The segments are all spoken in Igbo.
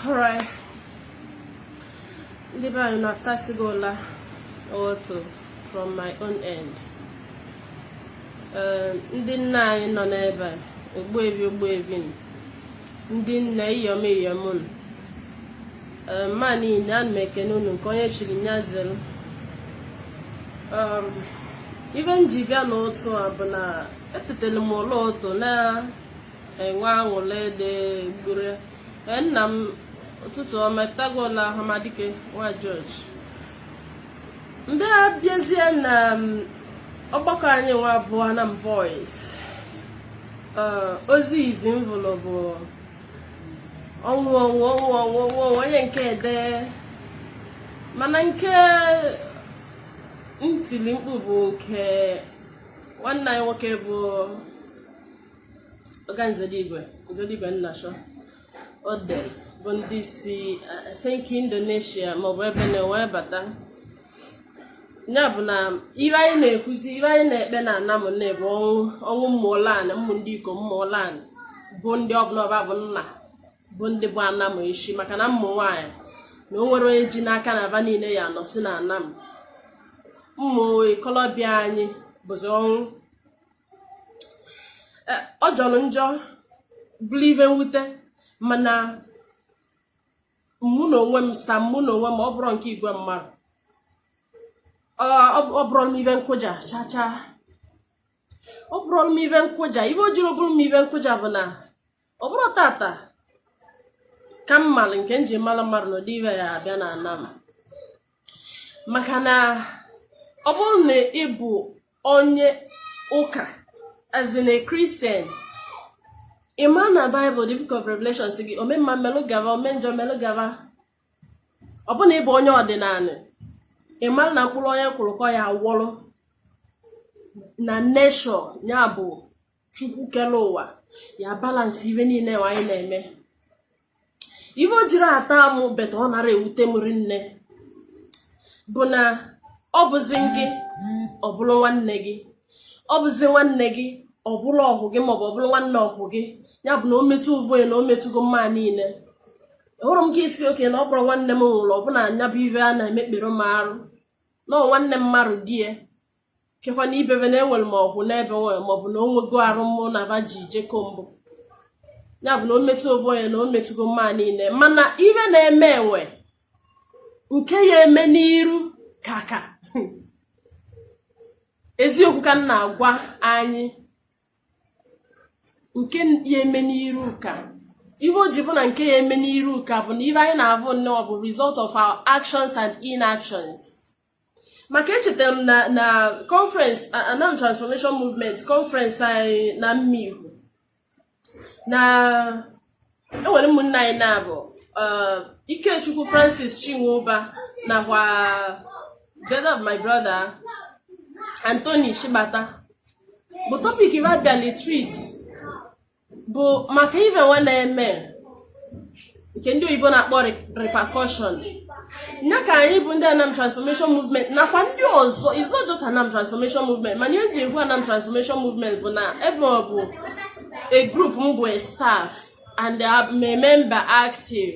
alright ndị be anyị na-atasigo ụla ụtụ from my own end ndị nna anyị nọ n'ebe a ogbuevi ogbuevi ndị nne iyom iyom unu mma niile ana m ekene unu nke onye chiri nya zere um, ive m ji bịa n'ụtụ a bụ na etetele m ụla ụtụ na-enwe aṅụle dị gbure nna m ụtụtụ ọma tago ụla ọhamadike nwa George mgbe a bịazie na um, ọgbakọ anyị nwa bụ Anam Voice uh, ozi izi m vụlụ bụ ọnwụ ọnwụ ọnwụ ọnwụ ọnwụ onye nke ede mana nke m tili mkpu bụ nke nwanne anyị nwoke bụ Oga Nzedigwe Nzedigwe Nnasho o dere bụ ndị si I think Indonesia maọbụ ebe na wee bata ya bụ na ive anyị na-ekwuzi ive anyị na-ekpe na Anam na bụ ọnwụ ọnwụ mmụọlanị mmụ ndị ikom mmụọlanị bụ ndị ọbụla ọba bụ nna bụ ndị bụ Anam echi maka na mmụ nwaanyị na o nwere onye ji n'aka na aba niile ya nọ si na Anam mmụ ikolobịa anyị bụzi ọnwụ eh, ọ jọrọ njọ bụrụ ive mwute mana mụ na onwe m sa mụ na onwe m ọ bụrọ nke igwe mmadụ ọ bụrọ m ive nkụja chacha ọ bụrọ m ive nkụja ive o jiri ọ bụrọ m ive nkụja bụ na ọ bụrọ tata ka m malụ nke m ji malụ mmadụ na ụdị ive a ya abịa na Anam maka na ọ bụrụ na ị bụ onye ụka as in a Christian ị ma na Bible the book of Revelation si gị ome mma melụ gava ome njọ melụ gava ọ bụ na ị bụ onye ọdịnanị ị ma na mkpụrụ onye kụrụ ka ọ ya wọrụ na nature ya bụ chukwu kere ụwa ya balance ive niile anyị na-eme ive o jiri ata amụ beta ọ nara ewute m rinne bụ na ọ bụzi gị ọ bụrụ nwanne gị ọ bụzi nwanne gị ọ bụrụ ọhụ gị maọbụ ọ bụrụ nwanne ọhụ gị ya bụ na o metụ ovu onye na o metụgo mma niile hụrụ m ka ị sị okay na ọ bụrọ nwanne m nwụrụ ọbụna anya bụ ive a na-emekpere m arụ na nwanne m mmadụ di ya kekwa na ibebe na enwere m ọgwụ n'ebe nwere maọbụ na o nwego arụ mụ na ba ji jeko mbụ ya bụ na o metụ ovu onye na o metụgo mma niile mana ive na-eme e nwe nke ya eme n'iru kaka eziokwu ka m na-agwa anyị nke ya eme n'iru ka ihe o ji bụ na nke ya eme n'iru ka bụ na ive anyị na-avụ nnọọ bụ result of our actions and inactions maka echetara m na na conference anam transformation movement conference anyị na mmiri na enwere ụmụnna anyị na-abụ uh, Ikechukwu Francis Chinwụba nakwa that of my brother Anthony Shibata bụ topic ive a bịalị treat bụ maka ife nwa na-eme nke ndị oyibo na-akpọ repercussion nya ka anyị bụ ndị anam transformation movement nakwa ndị ọzọ is not just anam transformation movement mana ihe ji ekwu anam transformation movement bụ na ebe ọ bụ a group m bụ a staff and I'm a member active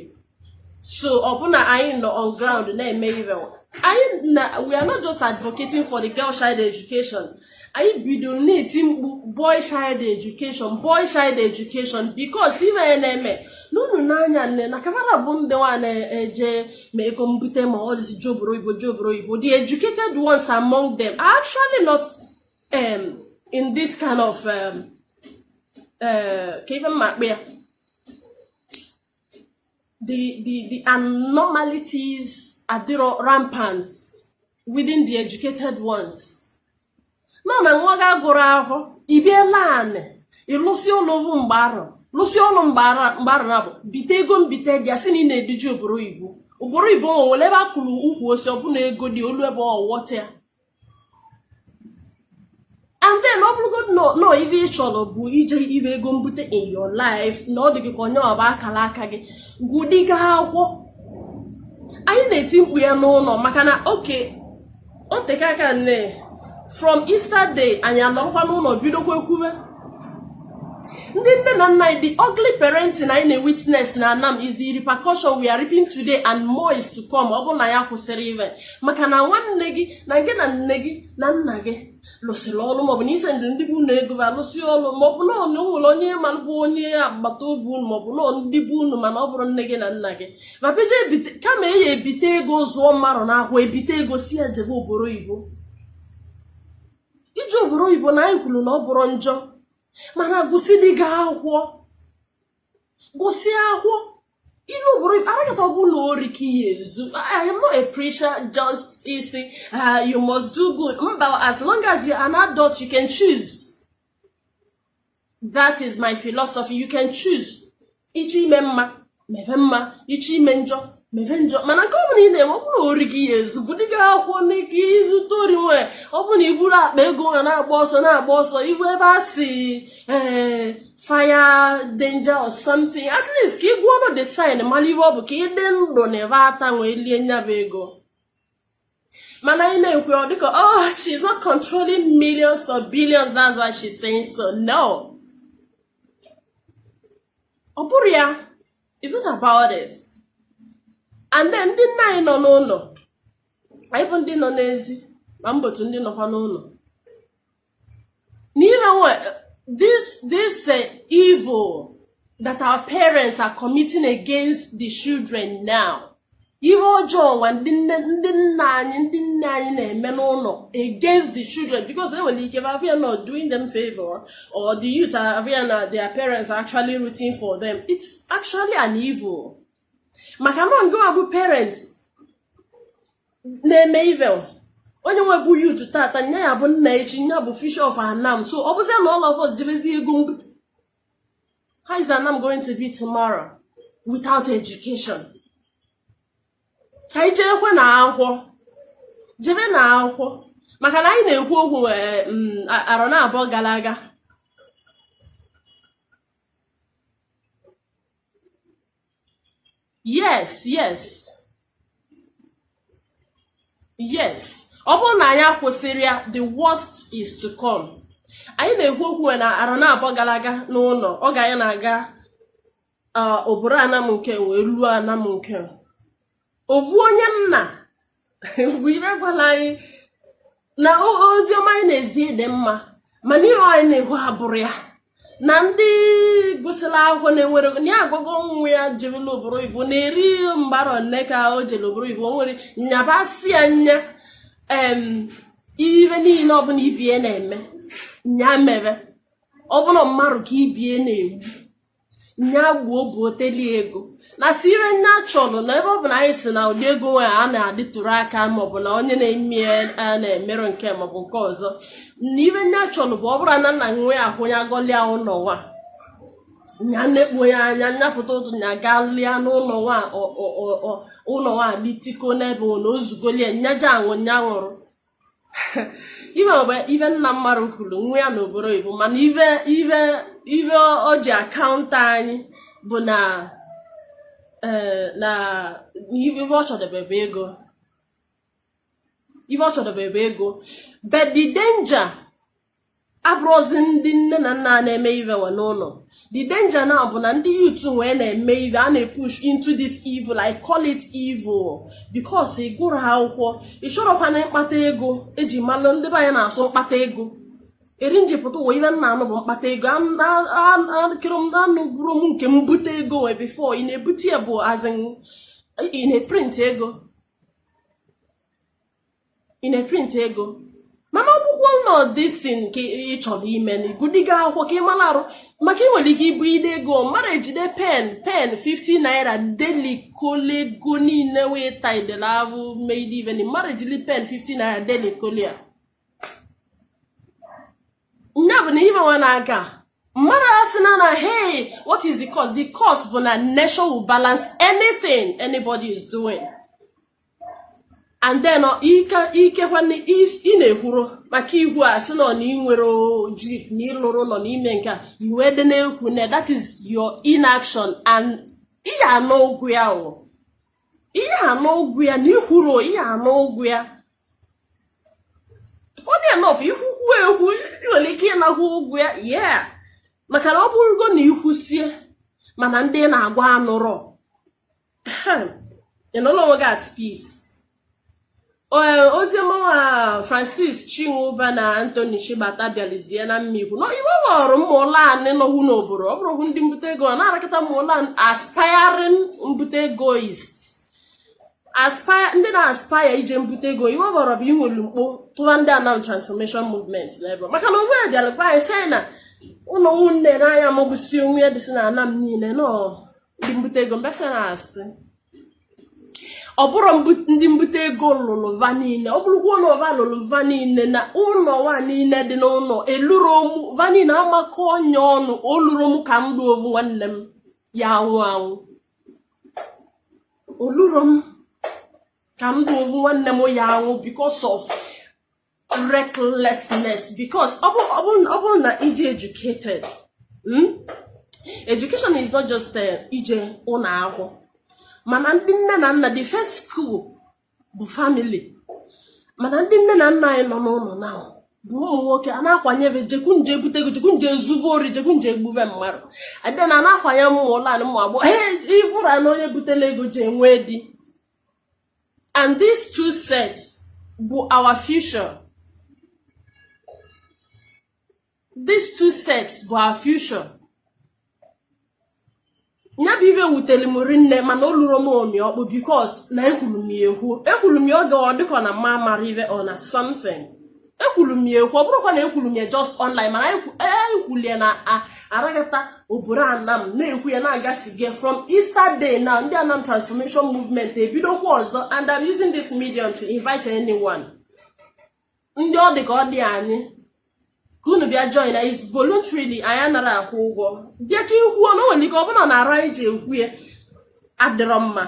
so ọ bụ na anyị nọ on ground na-eme ive anyị na we are not just advocating for the girl child education anyị bidoro na-eti mkpu boy child education boy child education because ive ya na-eme n'unu n'anya nne na kamara bụ ndị nwa na-eje ma ego mbute ma ọ sị je obodo oyibo je obodo oyibo the educated ones among them are actually not um, in this kind of um, uh, ka ife m ma akpọ ya the the the abnormalities adịrọ rampant within the educated ones na na nwa ga gụrụ akwụkwọ ibiela anị ịlụsị ọlụ ovu mgbe arọ lụsị ọlụ mgbe arọ na bụ bite ego mbite bịa si na ị na-eduji obodo oyibo obodo oyibo nwe nwere ebe a kụrụ ukwu osisi ọ bụ na ego dị o lue ebe ọ wọta ya and then ọ bụrụgodu na nọ ife ị chọrọ bụ ije ive ego mbute in your life na ọ dị gị ka ọ nya bụ akara aka gị gụdịga akwụkwọ anyị na-eti mkpu ya n'ụlọ maka na oke o teka aka nne from Easter day anyị anọrọkwa n'ụlọ bidokwa ekwuwe ndị nne na nna anyị the ugly parenting anyị na-witness na anam is the repercussion we are reaping today and more is to come ọ bụrụ na anyị akwụsịrọ ive maka na nwanne gị nwoke na nne gị na nna gị lụsịrị ọrụ maọbụ na ise ndị be unu ego ba lụsị ọrụ maọbụ na o nwere onye ma bụ onye agbata obi unu maọbụ na ndị be unu mana ọ bụrụ nne gị na nna gị ma peje kama eyi ebite ego zụọ mmadụ n'akwụkwọ ebite ego sị ya jebe obodo oyibo ije obodo oyibo na anyị kwuru na ọ bụrụ njọ mana gụsị dị gị akwụkwọ gụsị akwụkwọ i lu obodo oyibo arakata ọ bụ na ori ka ị ya-ezu i am not a preacher just ịsị ah, you must do good mba as long as you are an adult you can choose that is my philosophy you can choose ị chọọ ime mma mebe mma ị chọọ ime njọ mebe njọ mana nke ọbụla ị na-eme ọ bụ na ori ka ị ya-ezu gụdị gị akwụkwọ n'ike i zuta ori wee ọ bụ na i buru akpa ego wee na-agba ọsọ na-agba ọsọ ị hụ ebe a sị ee eh, fire danger or something at least ka ị gụọnụ the sign mara ihe ọ bụ ka ị dị ndụ na ebe ata nwee lie nya bụ ego mana anyị na-ekwu ọ dịka oh she's not controlling millions or billions that's why she's saying so no ọ bụrụ ya it's not about it and then ndị nna anyị nọ n'ụlọ anyị bụ ndị nọ n'ezi ma mbotu ndị nọkwa n'ụlọ you know what? This this uh, evil that our parents are committing against the children now. ihe ọjọọ nwa ndị nne ndị nna anyị ndị nne anyị na-eme n'ụlọ against the children because e nwere ike bavia na doing them favor or the youth avia na their parents are actually rooting for them it's actually an evil maka na ndị bụ parents na-eme evil onye nwa bụ youth tata nya ya-abụ nna echi nya bụ future of anam so ọ bụzia na all of us jerezi ego how is anam going to be tomorrow without education ka anyị jebekwe na akwụkwọ jebe na akwụkwọ maka na anyị na-ekwu okwu eh, mm, arọ naabọ gara aga yes yes yes ọ bụrụ na anyị akwụsịrị ya the worst is to come anyị na-ekwu okwu na arọ naabọ gara aga n'ụlọ ọ ga anyị na-aga oboro anam nke wee luo anam nke ovu onye nna bụ ibe gwara anyị na ozi ọma anyị na-ezi dị mma mana ihe anyị na-ekwu abụrụ ya na ndị gụsịrị akwụkwọ na-enwere na ya agwago nwa ya jirila obodo oyibo na-eri mgbara nne ka o jere obodo oyibo nwere nya basịa nya ihe niile ọbụla ibe ya na-eme nya mebe ọ bụ na mmadụ ka ibe ya na-egbu nya gbuo bụ oteli ego na sị ihe nya chọrọ na ebe ọ bụ na anyị si na ụdị ego nwere a na-adịtụrụ aka maọbụ na onye na-eme ya na-emerụ nke maọbụ nke ọzọ na ihe nya chọrọ bụ ọ bụrụ na nna nwe ya ahụ ya gọlịa ụlọ nwa nya nekpo ya anya nya pụta ụtụtụ nya galịa n'ụlọ nwa ụlọ nwa dị tiko n'ebe ọ na o zugoli ya nya ja-anwụ nya nwụrụ ife bụ ife nna mmadụ kwuru nwa ya n'obodo oyibo mana ife ife ife o ji akaụntụ anyị bụ na eh, na ife ọ chọdebe bụ ego ife ọ chọdebe bụ ego but the danger abụrọzi ndị nne na nna na-eme ive we n'ụlọ the danger now bụ na ndị youth wee na-eme ive a na-epush into this evil I call it evil because ị gụrọ akwụkwọ isorokwa na mkpata ego eji malụ ndị be anyị na-asụ mkpata ego eri njipụta ụwa ive nna anụ bụ mkpata ego akịrị m anụ bụrụ m nke mbute ego wee before ị na-ebute ya bụ as in ị na-eprint ego ị na-eprint ego mana ọ bụkwa nọ this thing ka ị chọrọ ime na ị gụdịga akwụkwọ ka ị mara arụ maka ị nwere ike ibu ide ego mmadụ ejide pen pen 50 naira delikole ego niile wee taidela ahụ made even mmadụ ejili pen 50 naira delikole ya nya bụ na imewa na-aga mmadụ asị na na hey what is the cost the cost bụ na nature will balance anything anybody is doing and then ike nwanne ị na-ekwuro maka igwu a sị nọ na ị nwere jeep na ị lụrụ ụnọ n'ime nke a iwe dị na-ekwu na that is your inaction and ị ya-ana ụgwọ ya o ị ya-ana ụgwọ ya na ikwuro ị ya-ana ụgwọ ya funny enough ikwukwu ekwu nwere ike ịnagwa ụgwọ ya yeah maka na ọ bụrụgo na ikwusie mana ndị ị na-agwa anụrọ ị nọ n'onwe gị at peace oziọmawa francis chinwụba na anthony chibata bịalizie na ụmụikwu na iwe ghọrọ ụmụụlọ anyị nọwu n'obodo ọ bụrụ ndị mbute ego ọ na-arakọta ụmụụlọ aspiring mbute egoist ndị na-aspaya ije mbute ego iwe ghọrọ bụ inwelu mkpo tụwa ndị anam transformation movement n'ebe maka na onwe ya bịara gwa anyị sị na ụlọ nwunne n'anya magbusi onwe ya dịsị na anam niile nọọ ndị mbute ego mbesa na-asị ọ bụrụ ndị mbute ego lụlụ va niile ọ bụrụkwa ụlọ va lụlụ va niile na ụlọ nwa niile dị n'ụlọ eluru omu va niile amakọ onye ọnụ oluru omu ka m dị ovu nwanne m ya anwụ anwụ oluru m ka m dị ovu nwanne m ya anwụ because of recklessness because ọ bụrụ na ị dị educated hmm? education is not just eh, ije ụlọ akwụkwọ mana ndị nne na nna the first school bụ family mana ndị nne na nna anyị nọ n'ụlọ na bụ ụmụ nwoke a na-akwanyebe jekwu nje ebute ego jekwu nje ezuvo ori jekwu nje egbuve mmadụ adị na na-akwanye ụmụ ụlọ anyị ụmụ agbọghọ ee ịvụra na onye butela ego ji enwe di and these two sets bụ our future these two sets bụ our future ya bụ ive wutere m rinne mana o lurọ m omi ọkpụ because na ekwuru m ya ekwu ekwuru m ya oge ọ dịkọ na mma mara ive ọ na something ekwuru m ya ekwu ọ bụrụkwa na ekwuru m ya just online mana anyị kwuru ya na aragata obodo anam na-ekwu ya na-agasi gị from Easter day na ndị anam transformation movement ebidokwa ọzọ and I'm using this medium to invite anyone ndị ọ dị ka ọ dị anyị ka unu bịa join na is voluntarily anyị anara akwụ ụgwọ bịa ka i kwuo na o nwere ike ọ bụla na ara anyị ji ekwu ya adịrọ mma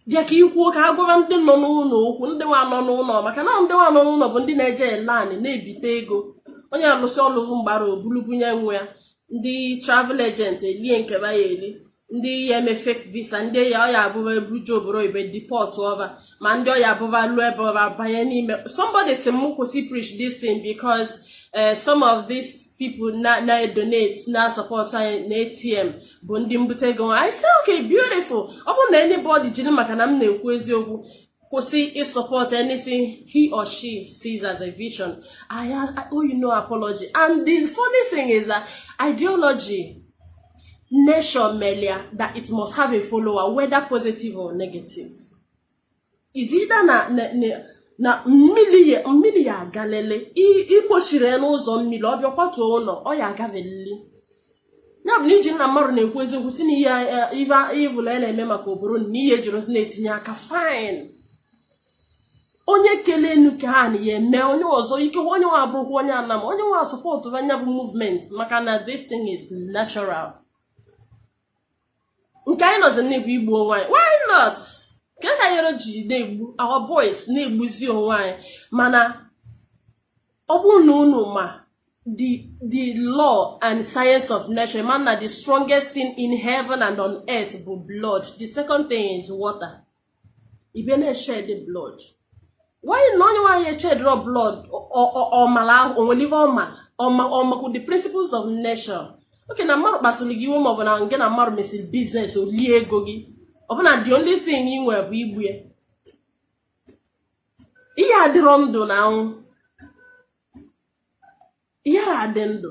bịa ka i kwuo ka a gwara ndị nọ n'ụlọ okwu ndị nwa nọ n'ụlọ maka na ndị nwa nọ n'ụlọ bụ ndị na-eje ele anị na-ebite ego onye alụsị ọlụvụ mgbara o bulu bunye nwa ya ndị travel agent elie nke ya eli ndị ya eme fake visa ndị ya ọ ya-abụ ba eburuju oboro ibe deportọ ba ma ndị ọ ya-abụ ba lụọ ebe ọba banye n'ime somebody sị m kwụsị preach this thing because eh, some of these people na-edonate na-asupport anyị na ATM bụ ndị mbute ego I say okay beautiful ọ bụrụ na anybody jiri maka na m na-ekwu eziokwu kwụsị ịsupport anything he or she sees as a vision I owe you no apology and the funny thing is that ideology nation melia that it must have a follower whether positive or negative is either na na mmiri ya mmiri ya agalele i kpochiri n'ụzọ mmiri ọ bịa kwatuo ụlọ ọ ya agavelili ya bụ na i ji na mmadụ na-ekwu eziokwu sị na ihe ivụla ya na-eme maka obodo na ihe ejirozi na-etinye aka fine onye kele enu ka ha na ya eme onye ọzọ ike onye nwa abụrụkwa onye anam onye nwa supportụa nya bụ movement maka na this thing is natural nke anyị nọzi na-egbu igbu onwe anyị why not nke ka nyere ji na-egbu our boys na-egbuzi onwe anyị mana ọ bụrụ na unu ma the the law and science of nature ma na the strongest thing in heaven and on earth bụ blood the second thing is water ị bịa na-eshed blood why na onye nwaanyị eshedrọ blood ọmara ahụ o nwere ihe ọma ọma ọmakwu the principles of nature okay na mmadụ kpasuru gị iwe ma ọ bụ na nke na mmadụ mesịrị business o lie ego gị ọ bụ na the only thing ị nwere bụ igbu ya ihe adịrọ ndụ na-anwụ ihe adị ndụ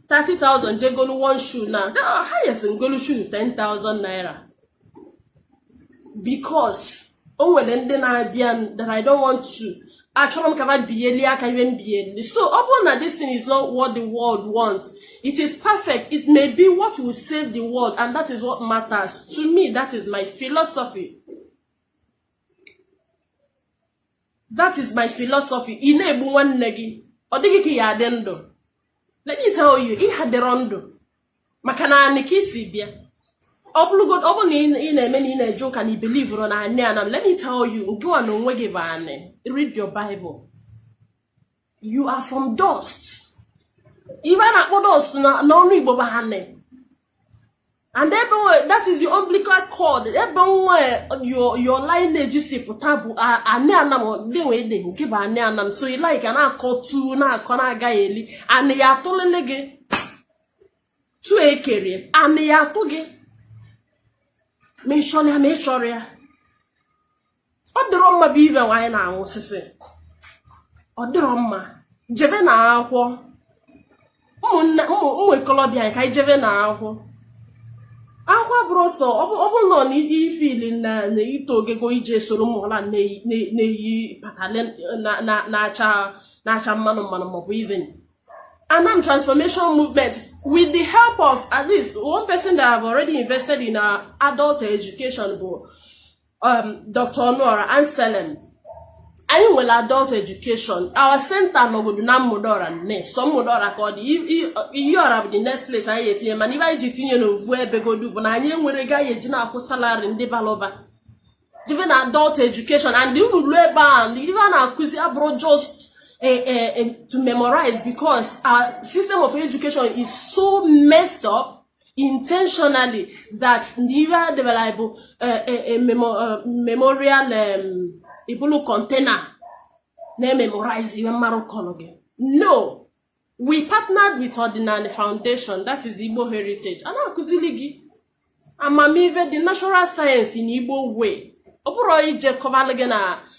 30,000 jegolu one shoe now, highest m golu shoe 10,000 naira because o nwere ndị na-abịa that I don't want to achọrọ m ka va biyelie aka ive m biyeli so ọ bụrụ na this thing is not what the world wants it is perfect it may be what will save the world and that is what matters to me that is my philosophy that is my philosophy ị na-egbu nwanne gị ọ dị gị ka ị ya-adị ndụ let me tell you ị hadịrọ ndụ maka na anị ka ị si bịa ọ bụrụgo ọ bụrụ na ị na-eme na ị na-eje ụka na ị believerọ na anị anam let me tell you ngị nwa na onwe gị bụ anị read your bible you are from dust ive a na-akpọ dust n'ọnụ igbo bụ anị and ebe that is your umbilical cord ebe nwa your your lineage si pụta bụ anị anam dị wee dị nke bụ anị anam so ị like na-akọ tu na-akọ na-agaghị eli anị ya atụlele gị tu ekere anị ya atụ gị ma ị chọrọ ya ma ị chọrọ ya ọ dịrọ mma bụ ive nwaanyị na-aṅụ sisi ọ dịrọ mma jeve na akwụkwọ ụmụnne ụmụ ikolobịa anyị ka anyị jeve na akwụkwọ akwụkwọ bụrụ sọ ọ bụrụ na ọ na ifili na ito ogego ije soro ụmụọla na-eyi patale na-acha mmanụ mmanụ maọbụ ive anam transformation movement with the help of at least one person that have already invested in our adult education bụ um, Dr. Ọnụọra Anselm anyị nwere adult education our center nọgodu na mmụdọra nne sọ mmụdọra ka ọ dị iyiọra bụ the next place anyị etinye mana ive anyị ji tinye n'ovu ebegodu bụ na anyị enwerọ ego anyị ji na-akwụ salary ndị balụba jeve na adult education and unu ruo ebe a ive a na-akụzi abụrọ just eh, eh, eh, to memorize because our system of education is so messed up intentionally that na ive a debere anyị bụ eh, eh, eh, memo- eh, memorial em, ibulu container na-ememorize ive mmarụ kọlụ gị no we partnered with ọdịnala foundation that is igbo heritage a na-akụzili gị amamive the natural science na igbo way ọ bụrọ ije kọvalụ gị na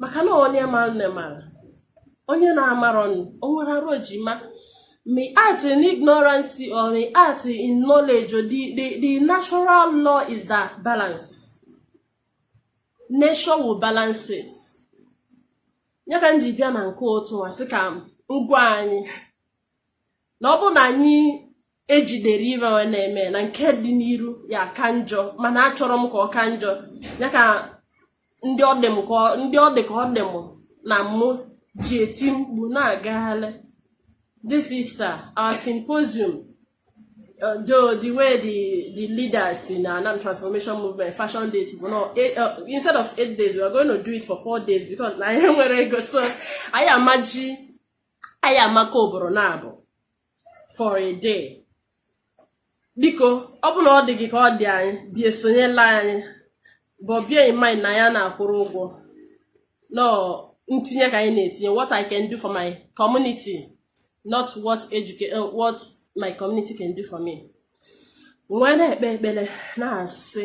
maka na onye ma nne mara onye na-amarọ o nwere arụ ejima may act in ignorance or may act in knowledge the, the, the natural law is that balance nature will balance it ya ka m ji bịa na nke ụtụ a sị ka m gwa anyị na ọ bụ na anyị ejidere ive we na-eme na nke dị n'iru ya ka njọ mana achọrọ m ka ọ ka njọ ya ka ndị ọ dị ka ọ dị m na mụ ji eti mkpu na-agagharị this is our symposium uh, though the way the the leaders in Anam transformation movement fashioned this bụ na eh, uh, instead of eight days we are going to do it for four days because na anyị enwerọ ego so anyị amaji anyị ya-eme ka ọ bụrụ naabọ for a day biko ọ bụ na ọ dị gị ka ọ dị anyị bịa sonyelu anyị but bear in mind na anyị ana-akwụrọ ụgwọ no ntinye ka anyị na-etinye what I can do for my community not what educate eh, what my community can do for me wee na-ekpe ekpele na-asị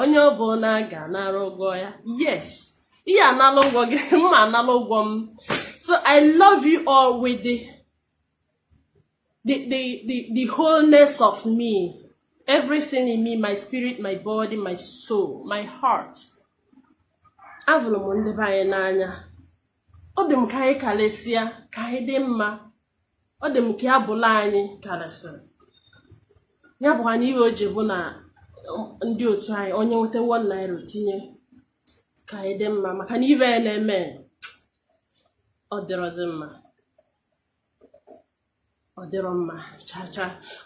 onye ọbụna ga-anara ụgwọ ya yes ị ya-anala ụgwọ gị mụ anala ụgwọ m so i love you all with the the the the, the wholeness of me everything in me my spirit my body my soul my heart avụlụ m ndị be anyị n'anya ọ dị m ka anyị kalịsịa ka anyị dị mma ọ dị m ka ya bụlụ anyị kalịsịrị ya bụkwa na ihe o ji bụ na um, ndị otu anyị onye nweta 1 naira o tinye ka anyị dị mma maka na ive a na-eme ọ dịrọzi mma ọ dịrọ mma cha cha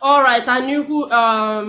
alright Anyukwu um,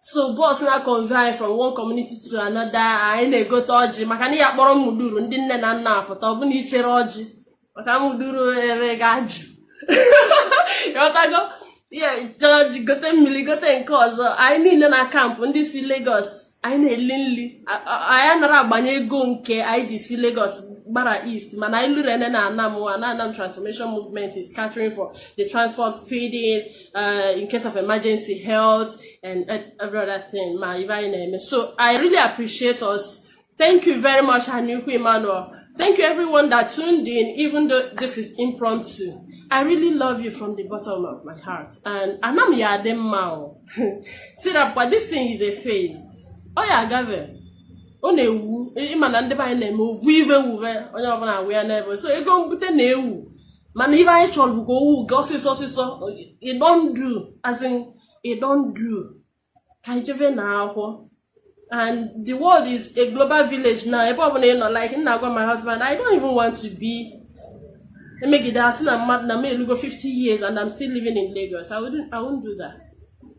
so bus na-convey anyị from one community to another anyị na-egote ọjị maka na ị ya-akpọrọ Umudora ndị nne na nna apụta ọ bụna i cherọ ọjị maka Umudora ebe ga-ajụ ịghọtago ị ya-eche ọjị gote mmiri gote nke ọzọ anyị niile na camp ndị si Lagos anyị na-eli nri anyị anara agbanye ego nke anyị ji si Lagos gbara east mana anyị lụrụ ene na Anam wa na Anam transformation movement is catering for the transport feeding uh, in case of emergency health and every other thing ma ive anyị na-eme so i really appreciate us thank you very much Anyukwu Emmanuel thank you everyone that tuned in even though this is impromptu I really love you from the bottom of my heart and Anam ya-adị mma o si na kwa this thing is a phase ọ ya-agave ọ na-ewu ị ma na ndị be anyị na-eme ovu ive wuve onye ọbụla awụ ya n'ebe so ego mbute na-ewu mana ive anyị chọrọ bụ ka o wuga ọsịsọ ọsịsọ e don do as in e don do ka anyị jeve na akwụkwọ and the world is a global village now ebe ọbụla ị nọ like m na-agwa my husband i don't even want to be imagine asị na mmadụ na m elugo 50 years and i'm still living in lagos i wouldn't, I wouldn't do that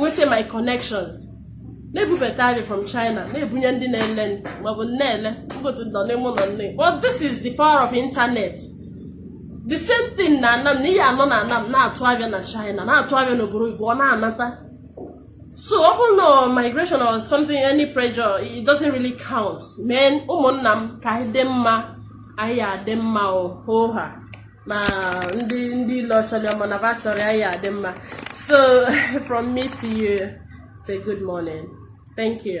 we say my connections na-ebubata avịa from China na-ebunye ndị na-ele maọbụ na-ele mbotu nọ n'ime ụlọ nne but this is the power of internet the same thing na Anam na ị ya-anọ na Anam na-atụ avịa na China na-atụ avịa n'obodo oyibo ọ na-anata so ọ bụrụ na migration or something any pressure it doesn't really count men ụmụnna m ka anyị dị mma anyị adị mma ohoha ma ndị ilo ọ chọrọ ma na va achọrọ anyị ya-adị mma so from me to you say good morning thank you